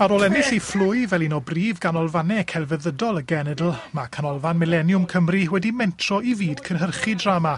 Ar ôl ennill ei phlwy fel un o brif ganolfannau celfyddydol y genedl, mae Canolfan Mileniwm Cymru wedi mentro i fyd cynhyrchu drama.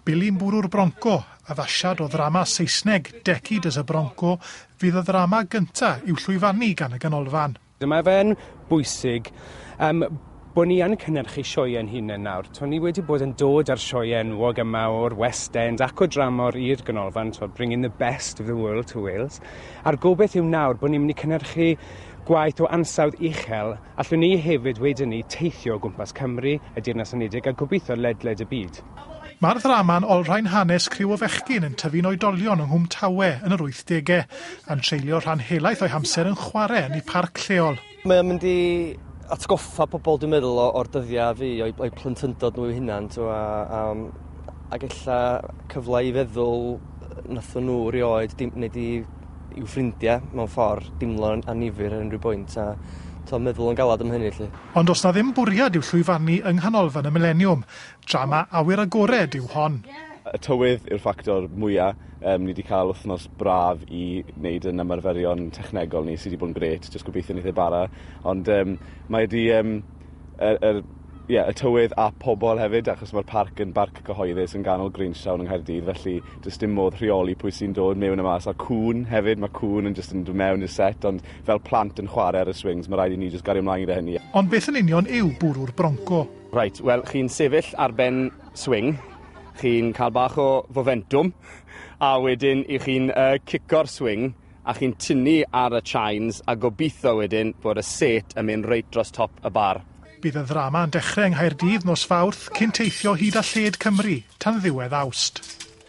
Billy Mbwrw'r Bronco, addasiad o ddrama Saesneg Decade as a Bronco, fydd y ddrama gyntaf i'w llwyfannu gan y ganolfan. Mae fe'n bwysig yym bod ni yn cynhyrchu sioeau ein hunain nawr. Tw'n ni wedi bod yn dod â'r sioeau enwog yma o'r West End ac o dramor i'r Ganolfan, tw'n bringing the best of the world to Wales. A'r gobeith yw nawr bod ni'n mynd i cynhyrchu gwaith o ansawdd uchel, allwn ni hefyd wedyn ni teithio o gwmpas Cymru, y Deyrnas Unedig a gobeithio ledled y byd. Mae'r ddrama'n olrhain hanes criw o fechgyn yn tyfu'n oedolion yng Nghwm Tawe yn yr wythdegau, a'n treulio rhan helaeth o'u hamser yn chwarae yn eu parc lleol. Mae o'n mynd i atgoffa pobl, dwi'n meddwl, o'r dyddiau fi, o'i, o'i plentyndod nhw eu hunan, to, a, a, ac ella cyfle i feddwl nathon nhw rioed, dim, neu di i'w ffrindiau mewn ffordd, dimlo'n anifyr ar unrhyw bwynt, a to, meddwl yn galad am hynny, lle. Ond os na ddim bwriad yw llwyfannu yng Nghanolfan y Mileniwm, Drama awyr agored yw hon. Y tywydd yw'r ffactor mwya'. Yym ni 'di cael wythnos braf i wneud yn ymarferion technegol ni sy 'di bod yn grêt, jyst gobeithio neith e bara. Ond yym mae 'di yym yr yr ie y tywydd a pobol hefyd achos mae'r parc yn barc cyhoeddus yn ganol greenstown yng Nghaerdydd felly does dim modd rheoli pwy sy'n dod mewn a mas a cŵn hefyd mae cŵn yn jyst yn dod mewn i'r set ond fel plant yn chwarae ar y swings mae rhaid i ni jyst gario mlaen gyda hynny. Ond beth yn union yw bwrw'r bronco? Reit, wel, chi'n sefyll ar ben swing, chi'n cael bach o fomentwm, a wedyn i chi'n uh, cico'r swing, a chi'n tynnu ar y chines, a gobeithio wedyn bod y set yn mynd reit dros top y bar. Bydd y ddrama yn dechrau yng Nghaerdydd nos Fawrth cyn teithio hyd a lled Cymru tan ddiwedd Awst.